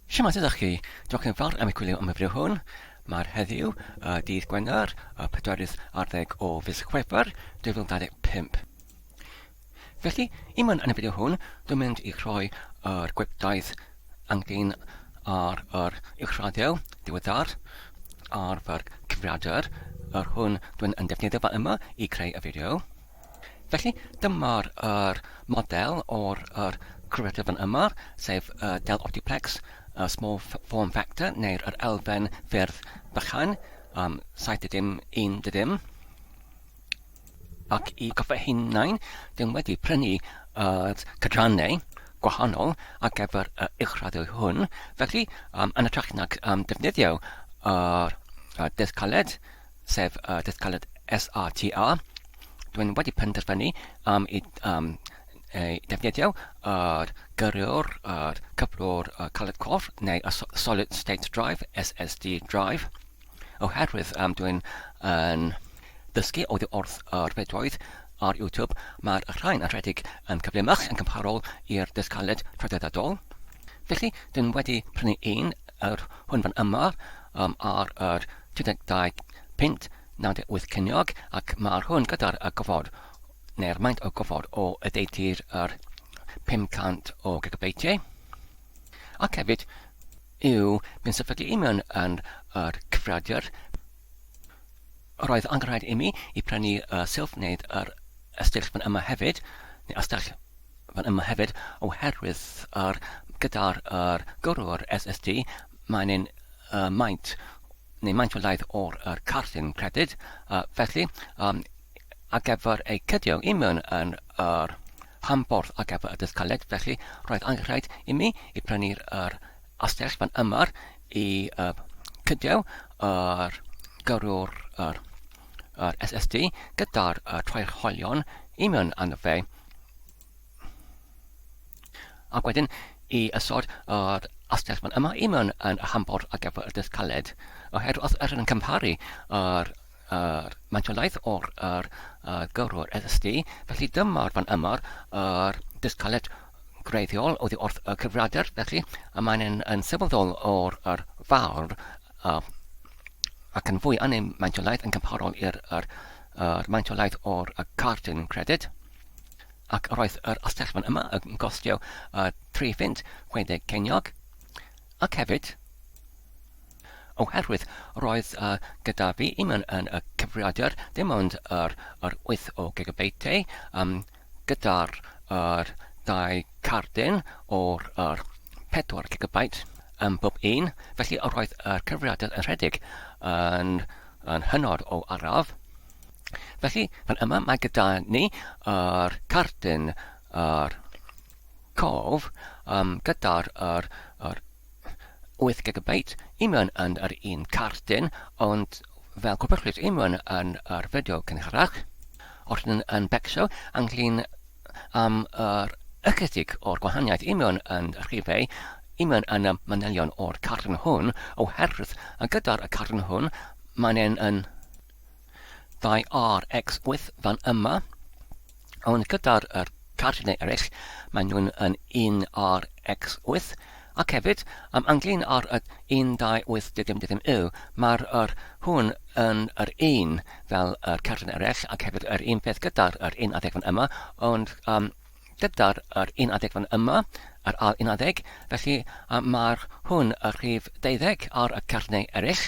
Shwmae, sut ydych chi? Diolch yn fawr am eich gwylio am y fideo hwn. Mae'r heddiw, y dydd Gwener, y pedwerydd ar ddeg o fis Chwefror 2025. Felly, i mewn yn y fideo hwn, dwi'n mynd i rhoi yr gwibdaith angin ar yr uwchradio diweddar ar fy'r cyfrifiadur, yr hwn dwi'n yn defnyddio fa yma i creu y fideo. Felly, dyma'r yr model o'r yr creative yn yma, sef y Dell Optiplex y small form factor neu'r yr elfen ffyrdd bychan, um, 71 Ac i gofio hunain, ddim wedi prynu uh, cydrannau gwahanol ar gyfer y uwchraddio hwn. Felly, um, yn y trach nag um, defnyddio yr uh, dydd caled, sef y dydd caled SATA, dwi'n wedi penderfynu am i um, ei defnyddio ar gyrru'r ar cyflwr uh, caled cof neu y Solid State Drive, SSD Drive, oherwydd um, dwi'n yn dysgu oddi wrth yr fedoedd ar YouTube, mae'r rhain yn rhedeg yn cyflymach yn cymharol i'r dydd caled traddodiadol. Felly, dwi'n wedi prynu un yr hwnfan yma um, ar yr 32 punt 98 ceiniog ac mae'r hwn gyda'r y gofod neu'r maint o gofod o ydeutu'r yr 500 o gigabeitiau ac hefyd yw yn sefydlu i mewn yn yr cyfrifiadur roedd angen rhaid i mi i prynu y sylf wneud yr ystyrll fan yma hefyd neu ystyrll fan yma hefyd oherwydd yr gyda'r yr gyrrwr SST mae'n yn uh, maint neu maint o laeth o'r yr carthin credyd uh, felly um, ar gyfer eu cydio i mewn yn yr rhanborth ar gyfer y dysgaled felly roedd angenrhaid i mi i prynu'r yr astell fan yma i uh, cydio yr gyrrwr yr yr SSD gyda'r trycholion i mewn arno fe. Ac wedyn i ysod yr asgell fan yma i mewn yn y hambor ar gyfer y dydd caled. Oherwydd os ydych yn cymharu yr, yr mantiolaeth o'r yr, yr gyrrwr SSD, felly dyma'r fan yma'r yr dydd caled greiddiol oddi wrth y cyfrifiadur, felly y mae'n yn, yn sylweddol o'r yr fawr uh, ac yn fwy annym maentiolaeth yn cymharol i'r yr, yr maentiolaeth o'r y cardyn credyd ac yr oedd yr astellfan yma yn costio uh, 3 ffint 60 ceiniog ac hefyd oherwydd roedd uh, gyda fi un yn, yn y cyfrifiadur ddim ond yr, yr 8 o gigabyte um, gyda'r yr dau cardyn o'r yr pedwar gigabyte yn bob un, felly yr oedd yr cyfrifiadur yn rhedeg yn, yn hynod o araf. Felly, fan yma mae gyda ni yr cardyn yr cof um, gyda'r yr, yr wyth gigabyte, Iman yn yr un cartyn, ond fel gwybodlys Iman yn yr fideo cynharach. Os yn yn becso ynglyn am yr ychydig o'r gwahaniaeth Iman yn rhifau, Iman yn y manylion o'r cartyn hwn, oherwydd gyda'r cartyn hwn mae'n yn Dau RX 8 fan yma, ond gyda'r er, cardiau eraill, maen nhw'n yn un RX 8, ac hefyd, am anglyn ar y 1280 dim dim dim yw, mae'r er hwn yn yr un fel yr er cardiau eraill, ac hefyd yr un peth gyda'r er 11 fan yma, ond um, gyda'r er 11 fan yma, yr ail 11, felly um, mae'r hwn y rhif 12 ar y cardiau eraill.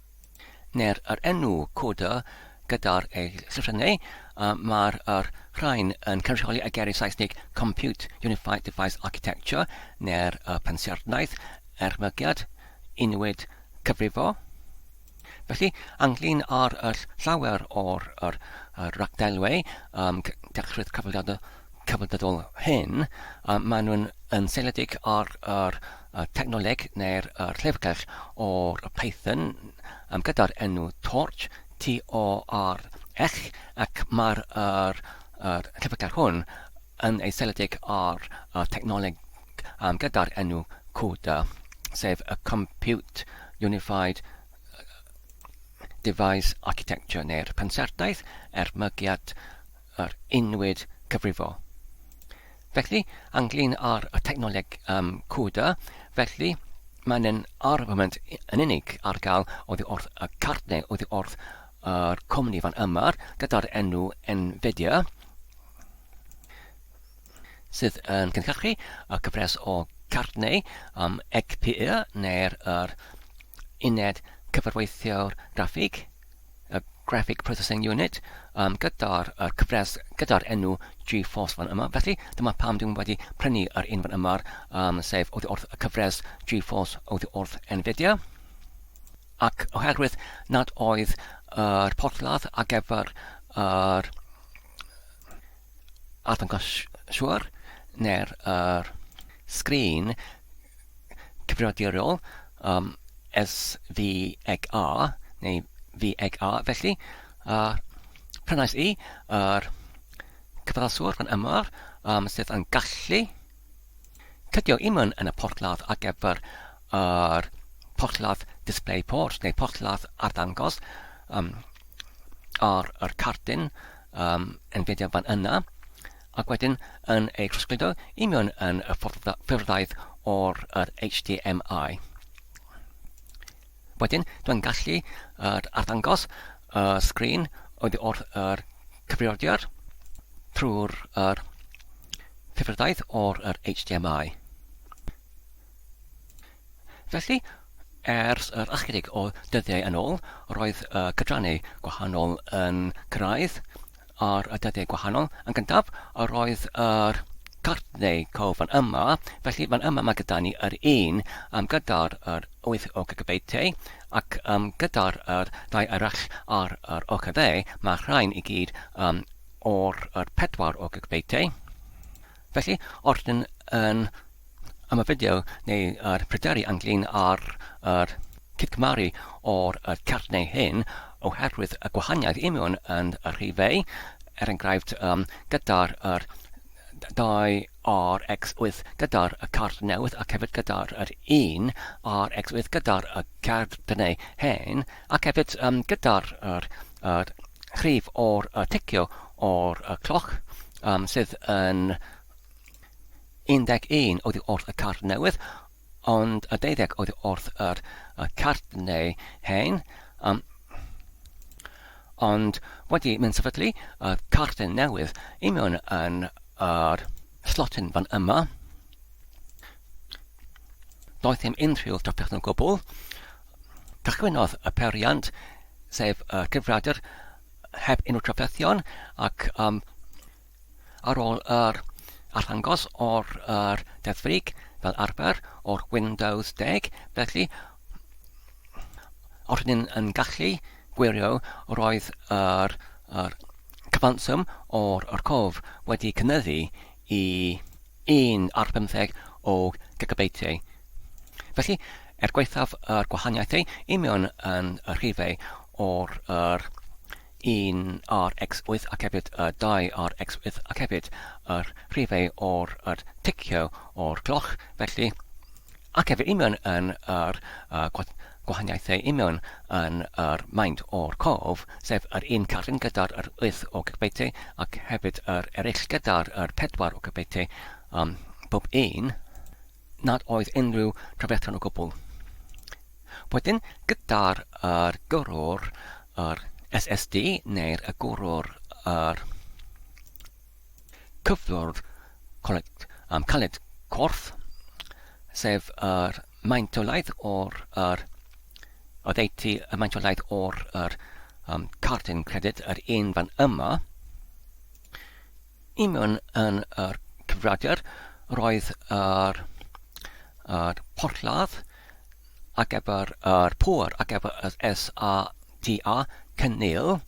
neu'r yr enw coda gyda'r ei llythrennau, a mae'r yr rhain yn cynrychioli y geiriau Saesnig Compute Unified Device Architecture neu'r y pensiarnaeth ermygiad unwyd cyfrifo. Felly, ynglyn â'r yr llawer o'r yr, yr ragdelwau um, dechreu'r cyfrifiadau cyfrifiadol hyn, um, maen nhw'n yn seiliedig ar yr y technoleg neu'r llyfrgell o'r Python um, gyda'r enw Torch, T-O-R-Ech, ac mae'r er, er, llyfrgell hwn yn ei seledig ar y technoleg um, gyda'r enw CUDA, sef y Compute Unified Device Architecture neu'r pensaerdaeth er mygiad yr unwyd cyfrifo. Felly, ynglyn â'r technoleg um, CUDA, felly, mae'n yn armament yn unig ar gael oddi wrth y cart neu oddi wrth yr cwmni fan yma gyda'r enw NVIDIA sydd yn cynhyrchu y cyfres o cartneu um, EGPIA neu'r er uned cyfarweithio'r graffig y Graphic Processing Unit um, gyda'r uh, cyfres gyda'r enw GeForce fan yma. Felly, dyma pam dwi'n wedi prynu yr un fan yma, um, sef oddi wrth y cyfres GeForce oddi wrth Nvidia. Ac oherwydd nad oedd yr uh, porthladd ar gyfer yr uh, arddangos siwr neu'r uh, sgrin cyfnodi ar ôl, um, S, V, ag A, neu V ag A, felly, a prynais i yr cyfalswr fan yma, um, sydd yn gallu cydio imwn yn y porthladd ar gyfer yr porthladd display port neu porthladd arddangos um, ar yr cardyn um, yn fideo fan yna. ac wedyn yn ei trosgludo i mewn yn y ffurfddaeth o'r yr HDMI. Wedyn, dwi'n gallu yr arddangos y sgrin oedd wrth yr cyfrifiadur trwy'r yr ffurfddaeth o'r yr HDMI. Felly, ers yr ychydig o dyddiau yn ôl, roedd y cydrannau gwahanol yn cyrraedd ar y dyddiau gwahanol. Yn gyntaf, yr oedd yr cartneu cof fan yma, felly fan yma mae gyda ni yr un um, gyda'r yr 8 o gigabeitiau, ac um, gyda'r yr ddau arall ar yr ochr dde, mae rhain i gyd um, o'r yr 4 o gigabeitiau. Felly, os dyn yn ymafedio neu yr pryderu ynglyn â'r yr cydgymaru o'r y cert neu hyn oherwydd y gwahaniaeth imiwn yn y rhifau, er enghraifft um, gyda'r yr 2RX8 gyda'r y card newydd ac hefyd gyda'r yr 1RX8 gyda'r y card neu hen ac hefyd um, gyda'r yr, yr rhif o'r y ticio o'r cloc, sydd yn 11 oddi wrth y card newydd, ond 12 oddi wrth yr card neu hen. Um, ond wedi mynd sefydlu y card newydd i mewn yn yr slotyn fan yma, doedd ddim unrhyw drafferth o gwbl. Cychwynnodd y periant, sef y cyfriadur heb unrhyw trafferthion ac um, ar ôl yr arddangos o'r er, Deddf Frig fel arfer o'r Windows 10, felly os ydyn yn gallu gwirio roedd yr, yr cyfanswm o'r, yr cof wedi cynyddu i un ar bymtheg o gigabeitiau. Felly, er gwaethaf yr gwahaniaethau union yn y rhifau o'r yr 1 ar x8 ac hefyd y 2 ar x8 ac hefyd yr rhifau o'r yr ticio o'r cloch, felly Ac efo union yn yr gwahaniaethau union yn yr maint o'r cof, sef yr un carn gyda'r yr wyth o gybeithiau ac hefyd yr ereill gyda'r yr pedwar o gybeithiau, ym mhob un, nad oedd unrhyw drafferthion o gwbl. Wedyn, gyda'r yr gyrrwr yr SSD neu'r y gwrwr yr cyflwr colled, um, caled corff, sef yr maint o laeth o'r yr oddeutu y maint o laeth o'r yr um, cartyn credyd yr un fan yma i mewn yn yr cyfradiad roedd yr, yr porthladd ac efo'r yr pŵer ac efo'r SAQ tua cynnil.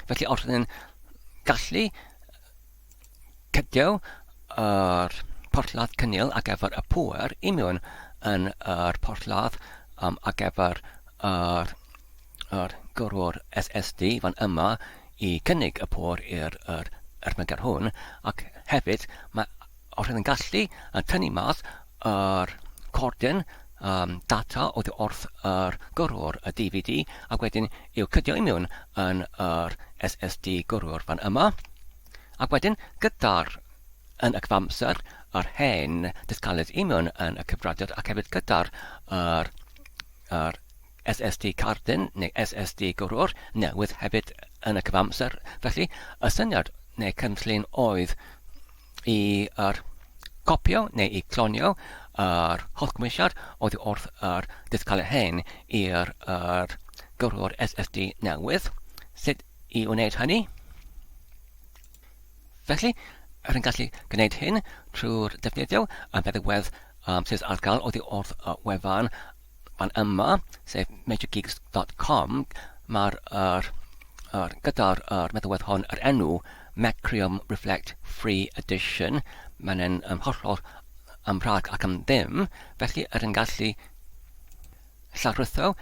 Felly os ydyn gallu cydio yr porthladd cynnil ar gyfer y pŵer i mewn yn yr porthladd um, ar gyfer yr, yr gyrwr SSD fan yma i cynnig y pŵer i'r er, er hwn ac hefyd mae Os ydyn gallu tynnu mas yr cordyn um, data oddi wrth yr gyrrwr y DVD ac wedyn i'w cydio i mewn yn yr SSD gyrrwr fan yma. Ac wedyn gyda'r yn y cyfamser yr hen dysgalydd i mewn yn y cyfradiad ac hefyd gyda'r yr, yr SSD cardyn neu SSD gwrywr newydd hefyd yn y cyfamser. Felly, y syniad neu cynllun oedd i yr copio neu i clonio yr holl gymwysiad oedd wrth yr dysgalau hen i'r yr gwrywr SSD newydd. Sut i wneud hynny? Felly, er yn gallu gwneud hyn trwy'r defnyddio y meddygwedd um, sydd ar gael oedd wrth y wefan Ond yma, sef majorgeeks dot com, mae'r er, er, gyda'r er, meddalwedd hon, yr enw Macrium Reflect Free Edition, mae'n yn um, hollol am rhag ac am ddim, felly yr yn gallu llarwyddo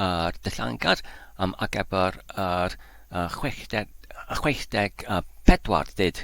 yr dillangad am ar gyfer yr uh, 60, 64 dyd.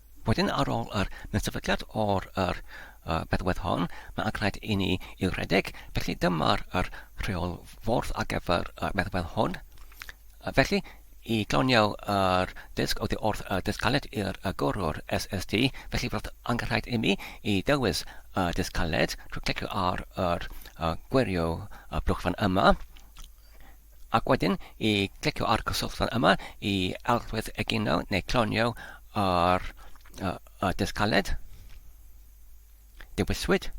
Wedyn ar ôl yr Mynseddfydiad o'r yr yy bedwedd hon, mae ac rhaid i ni i'w rhedeg, felly dyma'r yr rheolfordd ar gyfer y medwedd hwn. Yy felly, i gloniau yr dysg oddi wrth y dysg caled i'r y gwrwr SST, felly roedd angen rhaid i mi i ddewis y dysg caled trwy clicio ar yr yy gwirio y blwch fan yma. Ac wedyn i glicio ar gysylltwr yma i arllwys egino neu clonio ar y disg caled. Dewiswyd.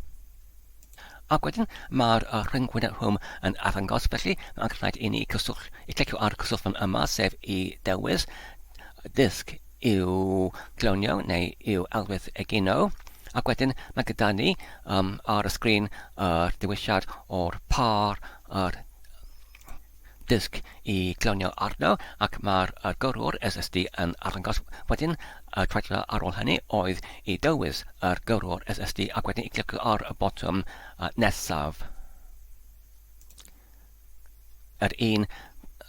Ac wedyn mae'r rhyngwyneb rhwng yn arddangos, felly mae'n rhaid i ni cyswll, i glicio ar gysylltwr yma, sef i dewis disg i'w clonio neu i'w arllwys egino. Ac wedyn mae gyda ni um, ar y sgrin yr dewisiad o'r par ar disg i glonio arno ac mae'r gyrrwr SSD yn arddangos wedyn y treiglo ar ôl hynny oedd i dywys yr gyrrwr SSD ac wedyn i glicio ar y botwm nesaf yr un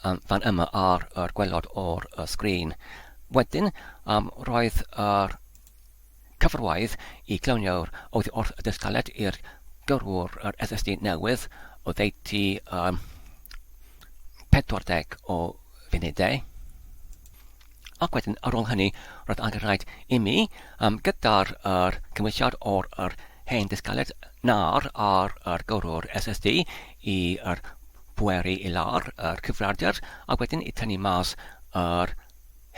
fan yma ar yr gwelod o'r sgrin wedyn roedd yr Cyfarwydd y Glawniwr oedd wrth dystaliad i'r gyrrwr yr esesu newydd oddeutu ym 40 o funudau. Ac wedyn ar ôl hynny roedd angen rhaid imi, um, gyda'r yr cymwysiad o'r yr hen dystaliad nar ar yr gyrrwr esesu i yr pweru i lawr yr cyfrifiadur a wedyn i tynnu mas yr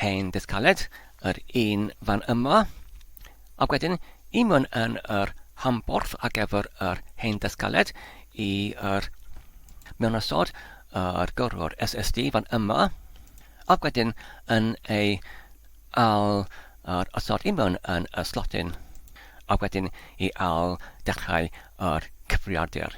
Hen Dydd Caled, yr un fan yma. Ac wedyn, i mewn yn yr hamborth ar gyfer yr Hen Dydd Caled, i yr mewn ysod, yr gyrrwr SSD fan yma. Ac wedyn, yn ei al yr ysod i mewn yn y slotyn. Ac wedyn, i al dechrau yr cyfriardir.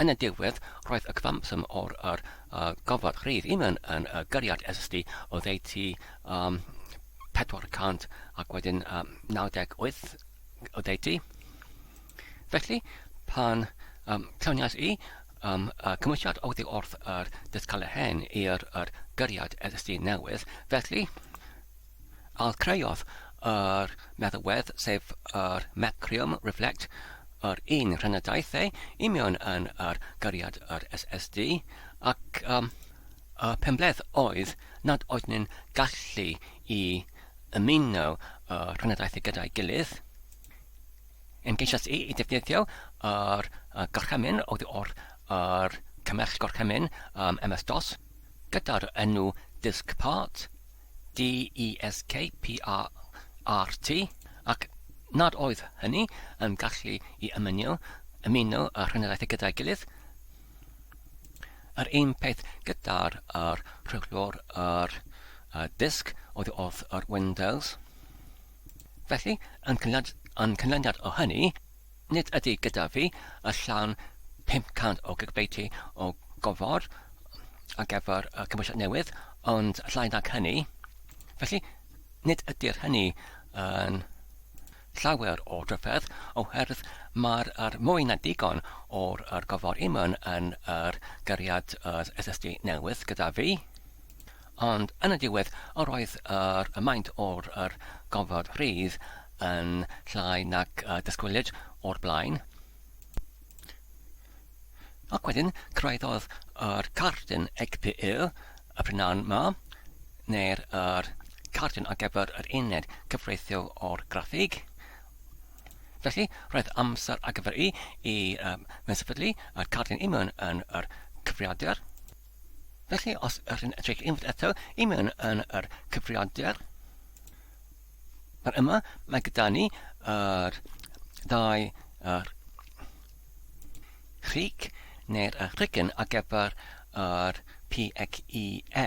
Yn y diwedd, roedd y cyfanswm o'r yr gofod rhydd unman yn y gariad esylltu oddeutu um, 400 ac wedyn um, 98 oddeutu. Felly, pan um, lluniais i um, y cymwysiad oddi wrth yr dysgalau hen i'r yr gariad esylltu newydd, felly, Al creodd yr meddalwedd sef yr Macrium Reflect, yr un rhynn a daeth ei union yn yr gariad yr SSD, ac um, y penbleth oedd nad oeddwn yn gallu i ymuno y rhynadaethau gyda'i gilydd. Yn geisias i i ddefnyddio yr uh, gorchymyn oedd o'r yr cymell gorchymyn um, MS-DOS gyda'r enw disk part, DESKPRRT, ac nad oedd hynny yn gallu i ymuno ymuno y rheneraethau gyda'i gilydd. Yr un peth gyda'r yr rheolwr yr y disg oedd wrth yr Windows. Felly, yn cynlad- yn cynlyniad o hynny, Nid ydy gyda fi y llan 500 o gigbeiti o gofod ar gyfer y cymwysiad newydd, ond llai nag hynny. Felly, nid ydy'r hynny yn llawer o dryfedd, oherwydd mae'r er mwy na digon o'r er gofod imwn yn yr gariad yr SSD newydd gyda fi. Ond yn y diwedd, yr oedd yr y maint o'r yr gofod rhydd yn llai nag y dysgwylid o'r blaen. Ac wedyn, cyrhaeddodd yr cardyn Egpyl y prynawn ma, neu'r yr cardyn ar gyfer yr uned cyfreithio o'r graffig. Felly, roedd amser ar gyfer i i um, mewn sefydlu y cardyn imwn yn yr cyfriadur. Felly, os ydych chi'n edrych unwaith eto i mewn yn yr cyfrifiadur, yma mae gyda ni yr ddau yr rhig neu'r rhigyn ar gyfer yr PXE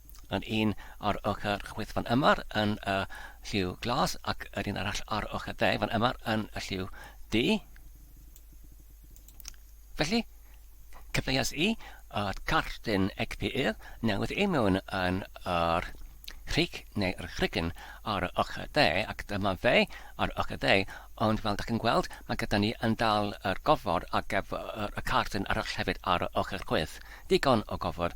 Yr un ar ochr chwith fan yma yn y lliw glas ac yr un arall ar ochr dde fan yma yn y lliw du. Felly, cyfleus i y cartyn egpyr newydd i mewn yn yr rhig neu yr rhigyn ar y ochr dde ac dyma fe ar ochr dde ond fel da chi'n gweld mae gyda ni yn dal yr gofod ar gyfer y cartyn arall hefyd ar y ochr chwyth. Digon o gofod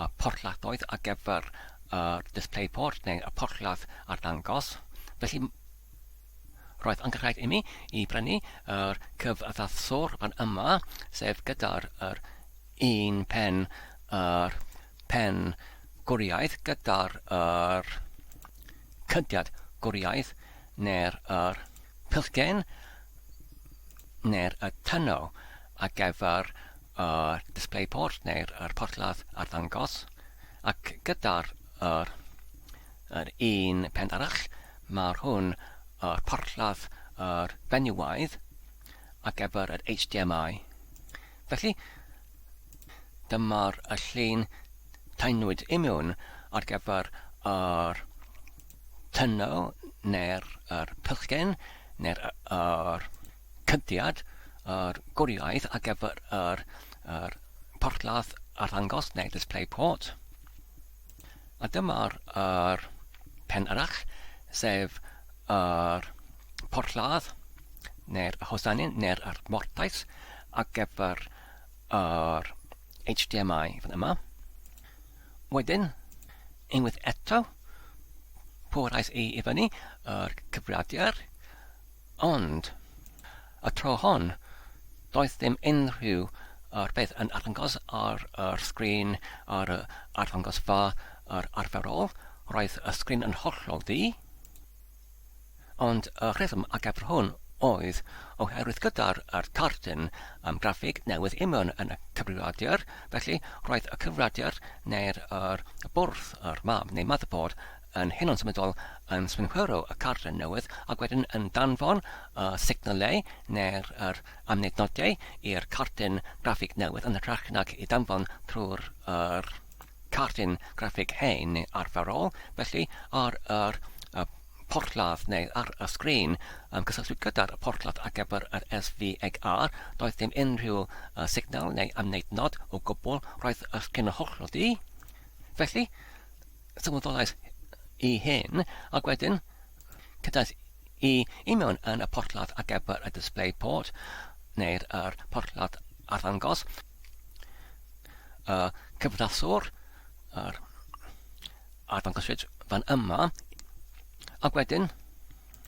y porthladdoedd ar gyfer y display port neu y porthladd arddangos, felly roedd yn rhaid imi i brynu yr cyfaddathwr fan yma, sef gyda'r yr un pen yr pen gwriaidd gyda'r yr cydiad gwriaidd neu'r yr pillgen neu'r y tyno ar gyfer y display board neu'r yr porthladd arddangos ac gyda'r yr yr un pen arall mae'r hwn yr porthladd yr fenywiaidd ar gyfer yr HDMI felly dyma'r y llun taenwyd i mewn ar gyfer yr tyno neu'r yr pylchgen neu'r yr Cynlliad yr gwriaith ar gyfer yr yr porthladd arddangos neu display port. A dyma'r yr pen arall, sef yr porthladd neu'r hosanin neu'r yr mortais ar gyfer yr HDMI fan yma. Wedyn, unwaith eto, pwrhais i i fyny yr cyfrifiadur Ond, y tro hon, doedd dim unrhyw beth yn arddangos ar yr sgrin ar y arddangosfa yr arferol, roedd y sgrin yn hollol ddu, ond y rheswm ar gyfer hwn oedd oherwydd gyda'r yr cardyn am graffig newydd i mewn yn y cyfrifiadur, felly roedd y cyfrifiadur neu'r yr bwrdd yr mam neu motherboard yn hynod symudol yn synhwyro y cartlen newydd ac wedyn yn danfon y signalau neu'r yr amnednodiau i'r cartlen graffig newydd yn hytrach nag i danfon trwy'r yr cartlen graffig hen neu arferol, felly ar yr y porthladd neu ar y sgrin yn cysylltu gyda'r porthladd ar gyfer yr SVHR, doedd dim unrhyw y signal neu amnednod o gwbl, roedd y sgrin yn hollol du. Felly, sylweddolais i hyn, ac wedyn cedais i i mewn yn y porthladd ar gyfer y display port, neu'r er porthladd arddangos, y cyflaswr, yr arddangoswyd fan yma, ac wedyn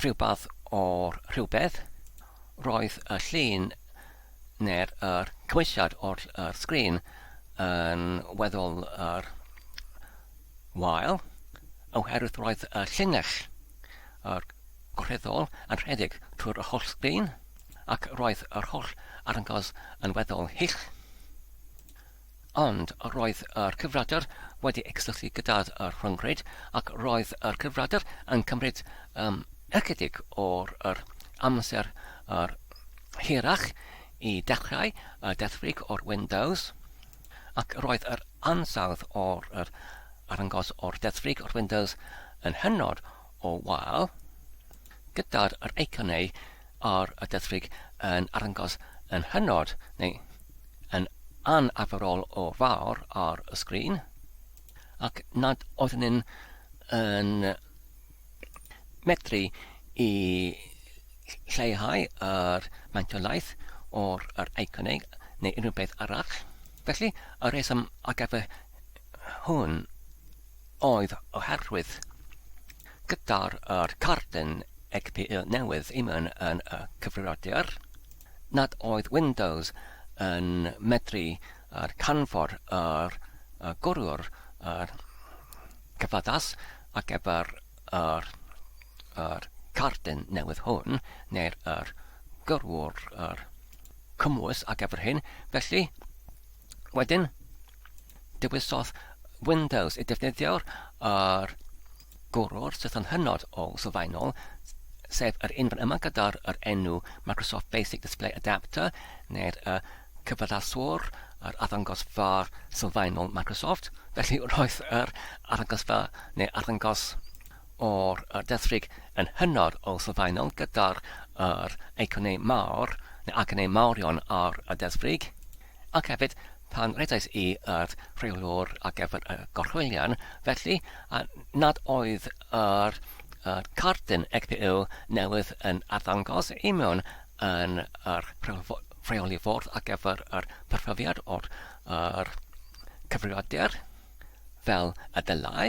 rhywbeth o'r rhywbeth, roedd y llun neu'r yr cymwysiad o'r yr sgrin yn weddol yr wael, oherwydd roedd y llinell yr gwreddol yn rhedeg trwy'r yr holl sgrin, ac roedd yr holl arngos yn weddol hyll. Ond roedd yr cyfradr wedi cysylltu gyda y rhyngrwyd ac roedd yr cyfradr yn cymryd um, ychydig o'r yr amser yr hirach i dechrau y dethfrig o'r Windows ac roedd yr ansawdd o'r yr arangos o'r dethfrig o'r Windows yn hynod o wal, gyda'r yr eiconau ar y dyddfrig yn arddangos yn hynod neu yn anarferol o fawr ar y sgrin, ac nad oeddwn yn, yn medru i lleihau yr maentiolaeth o'r yr eiconau neu unrhyw beth arall. Felly, y rheswm ar gyfer hwn oedd oherwydd gyda'r yr cardyn XPE newydd Eman yn y cyfrifiadur nad oedd Windows yn medru yr canfod yr y gwryr yr cyfaddas ac efo'r yr yr cardyn newydd hwn neu'r yr gwryr yr cymwys ac efo'r hyn felly wedyn Dewisodd Windows y defnyddiwr yr gwrwr sydd yn hynod o sylfaenol, sef yr un fan yma gyda'r yr enw Microsoft Basic Display Adapter, neu'r y cyfadaswr, yr arddangosfa sylfaenol Microsoft. Felly roedd yr arddangosfa neu arddangos o'r y desrig yn hynod o sylfaenol gyda'r yr eiconau mawr neu agonau mawrion ar y desrig. Ac hefyd, pan redais i yr rheolwr ar gyfer y gorchwylian, felly, a nad oedd yr yr cardyn EGPU newydd yn arddangos i mewn yn yr rheoli ffordd ar gyfer yr perfyfiad o'r yr cyfrifiadur fel y dylai,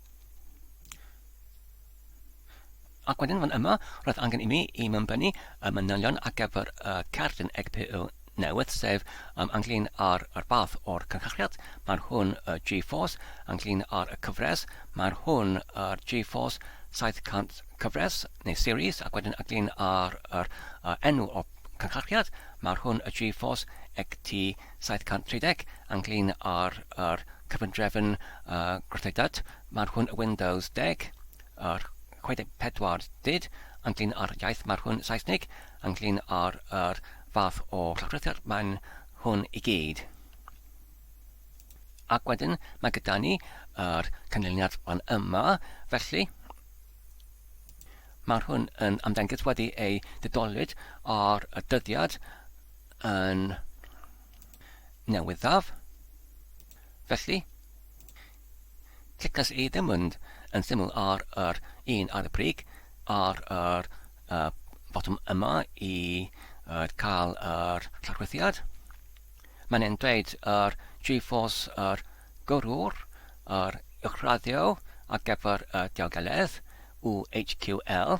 Ac wedyn fan yma, roedd angen i mi i mymbynnu y manylion ar gyfer y cerdyn EGPU newydd, sef um, ynglyn â'r ar bath o'r cynhyrchiad, mae'r hwn y G-Force, ynglyn â'r y cyfres, mae'r hwn yr G-Force 700 cyfres neu series, ac wedyn ynglyn â'r yr, uh, enw o'r cynhyrchiad, mae'r hwn y G-Force EGT 730, ynglŷn â'r yr cyfundrefn yy gwrthdeudded, mae'r hwn Windows 10, yr 64 did, ynglŷn â'r iaith mae'r hwn Saesnig, ynglŷn â'r yr fath o llawdrithedd mae'n hwn i gyd. Ac wedyn mae gyda ni yr cynlyniad fan yma, felly Mae'r hwn yn ymddengys wedi ei didolwyd ar y dyddiad yn newyddaf. Felly, clicas i ddim mynd yn syml ar yr un ar y brig ar yr uh, botwm yma i uh, cael yr llorwythiad. Mae'n e'n dweud yr GeForce yr gyrwr, yr uwchraddio ar gyfer y diogeledd, UHQL,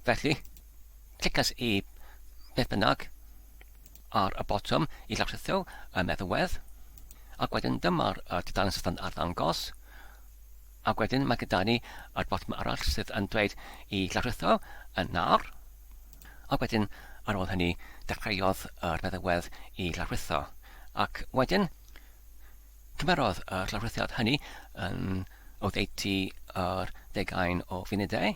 felly Clicais i beth bynnag ar y botwm i lawrlwytho y meddwedd, ac wedyn dyma'r dudalen sydd yn arddangos, ac wedyn mae gyda ni yr botwm arall sydd yn dweud i lawrlwytho yn nawr, ac wedyn ar ôl hynny dechreuodd yr meddwedd i lawrlwytho, ac wedyn cymerodd y llawrlwythiad hynny yn oddeutu yr deugain o funudau.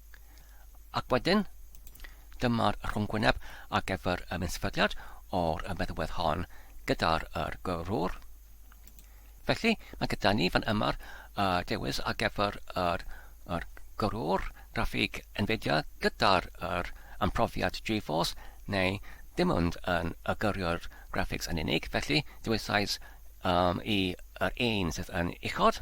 Ac wedyn, dyma'r rhwngwyneb ar gyfer y minsefydliad o'r feddwedd hon gyda'r yr gyrrwr. Felly, mae gyda ni fan yma'r uh, dewis ar gyfer yr, yr gyrrwr graffig Nvidia gyda'r yr amprofiad GeForce neu dim ond yn y gyrrwr graphics yn unig. Felly, dewisais um, i yr un sydd yn uchod.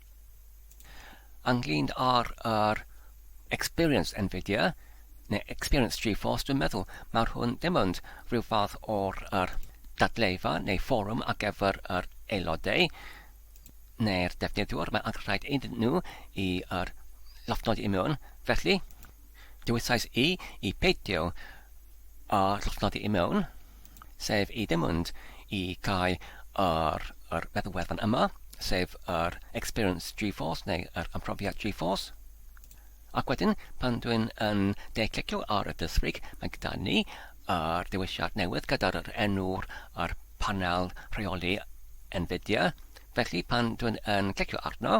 Ynglŷn â'r yr experience Nvidia, neu experience GeForce, dwi'n meddwl mawr hwn ddim ond rhyw fath o'r yr dadleufa neu fforwm ar gyfer yr aelodau neu'r defnyddiwr, mae angen rhaid iddyn nhw i yr lofnodi i mewn, felly Dywedais i i beidio â llosnodi i mewn, sef i ddim mynd i cau ar yr meddwl wefan yma, sef yr Experience GeForce neu yr Ymprofiad GeForce. Ac wedyn, pan dwi'n yn de clicio ar y dysrig, mae gyda ni ar ddiwysiad newydd gyda'r enw'r ar panel rheoli Nvidia. Felly pan dwi'n yn clicio arno,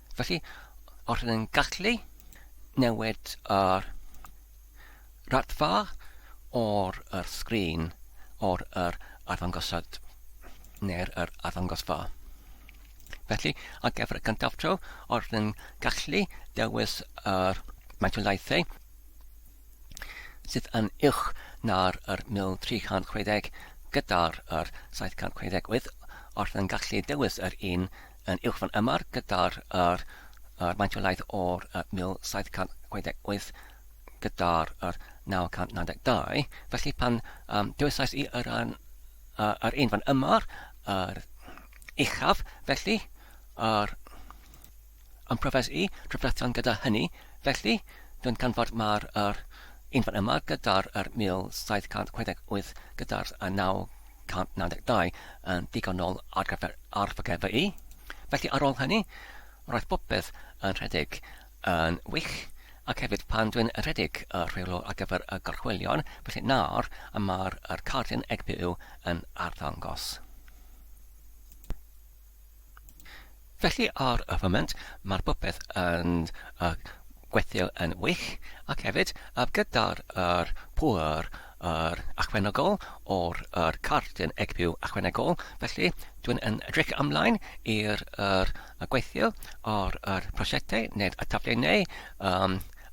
Felly, os ydyn ni'n gallu newid yr raddfa o'r yr sgrin, o'r yr arddangosad neu'r yr arddangosfa. Felly, ar gyfer y cyntaf tro, os ydyn ni'n gallu dewis yr metrolaethau sydd yn uwch na'r yr 1360 gyda'r yr 758, os ydyn ni'n gallu dewis yr un yn uwch fan yma gyda'r er, er maint o laeth o'r 1768 gyda'r er 992. Felly pan um, dewysais i yr, an, uh, yr un fan yma, yr uchaf, felly yr yn profes i trafferthion gyda hynny, felly dwi'n canfod mae'r er un fan yma gyda'r er 1768 gyda'r 992 1992 yn ddigonol ar gyfer arddogfa i. Felly ar ôl hynny, roedd popeth yn rhedeg yn wych, ac hefyd pan dwi'n rhedeg y rheolwr ar gyfer y gorchwylion, felly nawr y mae'r yr cardyn egpu yw yn arddangos. Felly ar y foment mae'r popeth yn gweithio yn wych ac hefyd gyda'r pŵer ychwanegol o'r cardyn EGP ychwanegol felly dwi'n yn edrych ymlaen i'r gweithio ar y prosiectau neu'r taflenni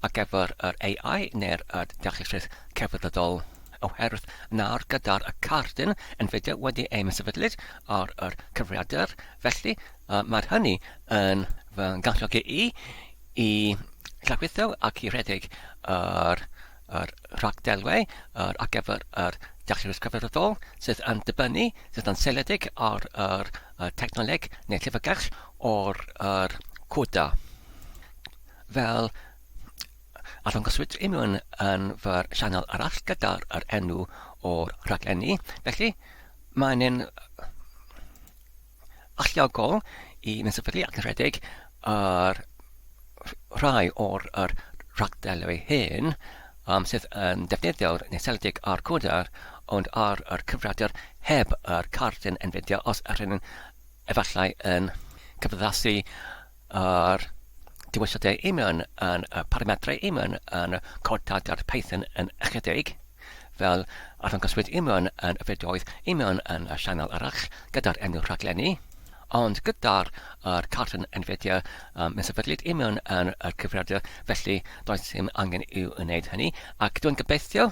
ar gyfer yr AI neu'r deallusrwydd cyfredol, oherwydd nawr gyda'r cardyn Nvidia wedi ei sefydlyd ar yr cyfrifiadur, felly mae'r hynny yn fy ngalluogi i i lawrlwytho ac i redeg yr yr rhagdelwau ar gyfer yr deallusrwydd cyfredol sydd yn dibynnu, sydd yn seiliedig ar yr technoleg neu llyfrgell o'r yr CUDA. fel a ddangoswyd i mewn yn fy sianel arall gyda'r er enw o'r rhaglenni. Felly, mae'n un alliogol i fynd sefydlu ac yn rhedeg ar rhai o'r er rhagddelwy hyn um, sydd yn defnyddio'r neseledig a'r codar, ond ar yr cyfrifiadur heb yr cardyn yn fideo os ydyn efallai yn cyfyddasu A'r dewisydau Iman yn y parametrau Iman yn cod-data'r Python yn ychydig, fel arddangoswyd Iman yn y fideoedd Iman yn y sianel arall gyda'r enw rhaglenni, ond gyda'r yr cartlen Nvidia um, mi sefydlid Iman yn y cyfrifiadur felly does dim angen i'w wneud hynny, ac dwi'n gobeithio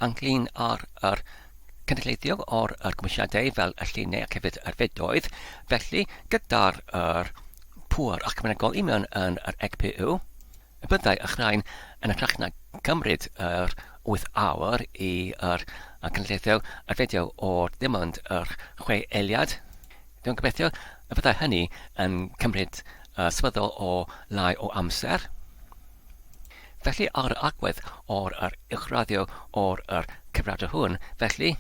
ynglŷn â'r yr cynulleiddio o'r yr cymwysiadau fel y llinau ac hefyd yr fedoedd. Felly, gyda'r yr pŵer ac mae'n agol i mewn yn yr EGPU, y byddai y rhain yn hytrach na cymryd yr 8 awr i yr y cynulleiddio y fideo o'r dim ond yr chwe eiliad. Dwi'n gobeithio y byddai hynny yn cymryd uh, swyddol o lai o amser. Felly ar yr agwedd o'r yr uwchraddio o'r yr cyfradw hwn, felly,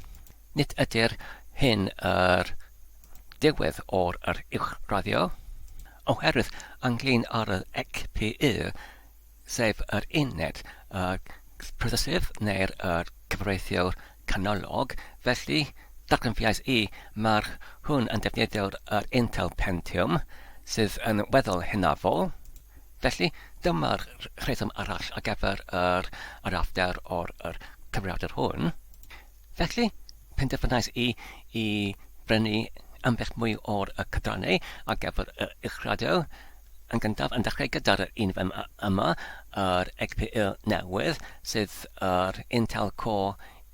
nid ydy'r hyn yr diwedd o'r yr uwchraddio, oherwydd ynglyn ar yr ECPU, sef yr uned y prosesydd neu'r yr cyfreithiwr canolog, felly, darganfuais i, mae'r hwn yn defnyddio'r yr Intel Pentium, sydd yn weddol hynafol, Felly, dyma'r rheswm arall ar gyfer yr arallder o'r yr cyfrifiadur hwn. Felly, penderfynais i i brynu ambell mwy o'r y cydrannau ar gyfer y uwchraddio. Yn gyntaf, yn dechrau gyda'r un fem yma, yr XPU newydd, sydd yr Intel Core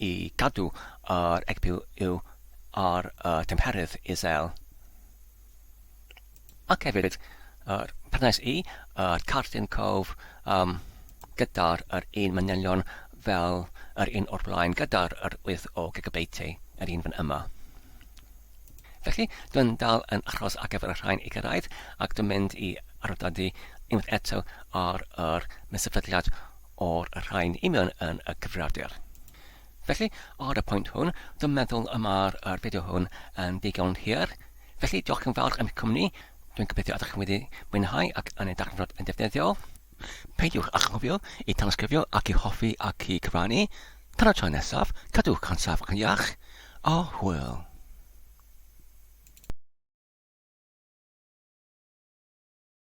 i gadw yr egwyl ar y tymheredd isel, ac hefyd yr perthynas i yr cardyn cof um, gyda'r yr un manylion fel yr un o'r blaen gyda'r yr wyth o gigabyteau yr un fan yma. Felly, dwi'n dal yn achos ar gyfer y rhain i gyrraedd ac dwi'n mynd i arddodi unwaith eto ar yr mesyfyddiad o'r rhain i mewn yn y cyfrifiadur. Felly, ar y pwynt hwn, dwi'n meddwl y mae'r er fideo hwn yn ddigon hir. Felly, diolch yn fawr am eich cwmni. Dwi'n gobeithio ydych chi wedi mwynhau ac yn ei darganfod yn defnyddiol. Peidiwch â chofio i danysgrifio ac i hoffi ac i cyfrannu. Tan y tro nesaf, cadwch yn saff ac yn iach, a hwyl!